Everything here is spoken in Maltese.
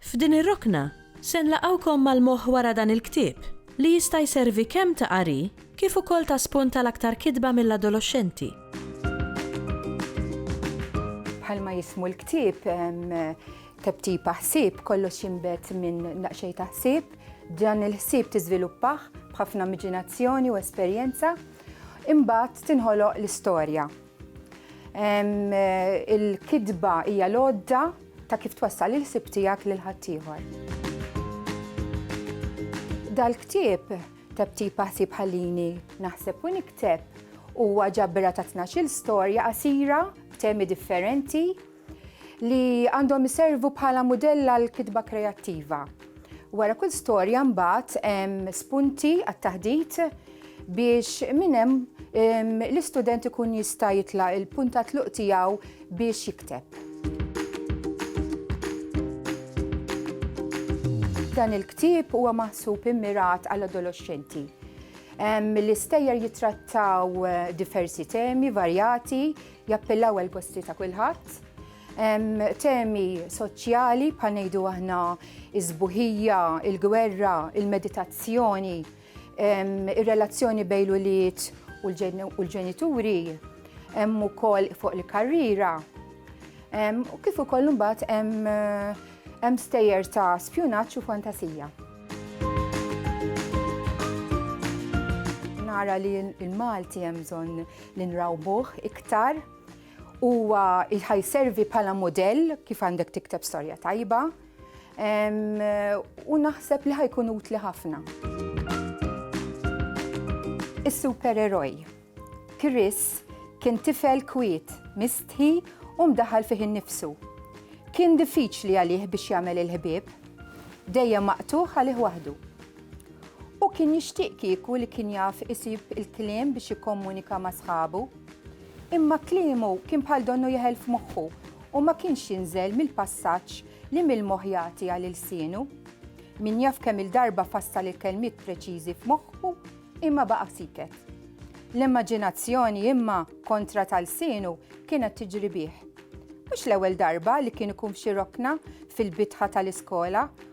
F'din ir-rokna, se nlaqgħukom mal-moħħ wara dan il-ktieb, li jista' jservi kemm ta' qari kif ukoll ta' spunt għal aktar kitba mill-adoloxxenti. Bħalma jismu l-ktieb, Tebtipa Ħsieb, kollox jinbet minn naqxej ta' ħsieb, dan il-ħsieb tiżviluppah b'ħafna miġinazzjoni u esperjenza, imbagħad tinħoloq l-istorja. Il-kitba hija l-għodda ta' kif twassal il-ħsieb tiegħek lil ħaddieħor. Dal-ktieb tebtib ħsieb ħallini naħseb u nikteb huwa ġabra ta' tnax-il storja qasira b'temi differenti li għandhom iservu bħala mudell għal kitba kreattiva. Wara kull storja mbagħad hemm spunti għat-taħdit biex minn hemm l-istudent ikun jista' jitlaq il-punta tluq tiegħu biex jikteb. Dan il-ktieb huwa maħsub immirat għal adolescenti L-istejjer jitrattaw eh, diversi temi varjati Jappellaw għal gusti ta' kulħadd. Temi soċjali bħal ngħidu aħna iż-żbuħija, il-gwerra, il-meditazzjoni, ir-relazzjoni bejn l-ulied u l-ġenituri, hemm ukoll fuq il-karriera. U kif ukoll imbagħad hemm stejjer ta' spjunaġġ u fantasija. Nara li l-Malti hemm bżonn li nrawbuh iktar huwa ħajservi bħala modell kif għandek tikteb storja tajba u naħseb li ħajkun utli ħafna. Is-supereroj. Chris kien tifel kwiet, mistħi u mdaħal fih innifsu. Kien diffiċli għalih biex jagħmel il-ħbieb, dejjem maqtuħ għalih waħdu. Hu kien jixtieq kieku li kien jaf isib il-kliem biex jikkomunika ma' sħabu. Imma kliemu kien bħal donnu jeħel f'moħħu u ma kienx jinżel mill-passaġġ li mill-moħħ jagħti għal ilsienu. Min jaf kemm il-darba fassal il-kelmiet preċiżi f'moħħu imma baqa' siket. L-immaġinazzjoni imma kontra ta' lsienu kienet tiġri bih. Mhux l-ewwel darba li kien ikun f'xi rokna fil-bitħa tal-iskola